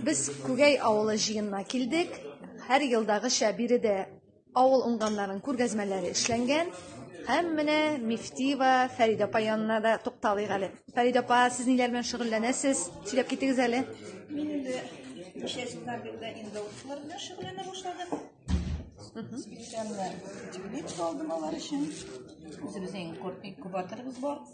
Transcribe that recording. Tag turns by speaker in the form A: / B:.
A: Без Күгәй авылы җыенына килдек. Һәр елдагыча биредә авыл уңганнарын күргәзмәләре эшләнгән. Һәм менә Мифтиева Фәрид апа янына да тукталыйк әле. Фәрид апа, сез ниләр белән шөгыльләнәсез? Сөйләп китегез әле. Мин инде
B: ничә еллар бирле инде укулар белән шөгыльләнә башладым. Специально теплица алдым алар өчен. Үзебезнең кортник кубаторыбыз бар.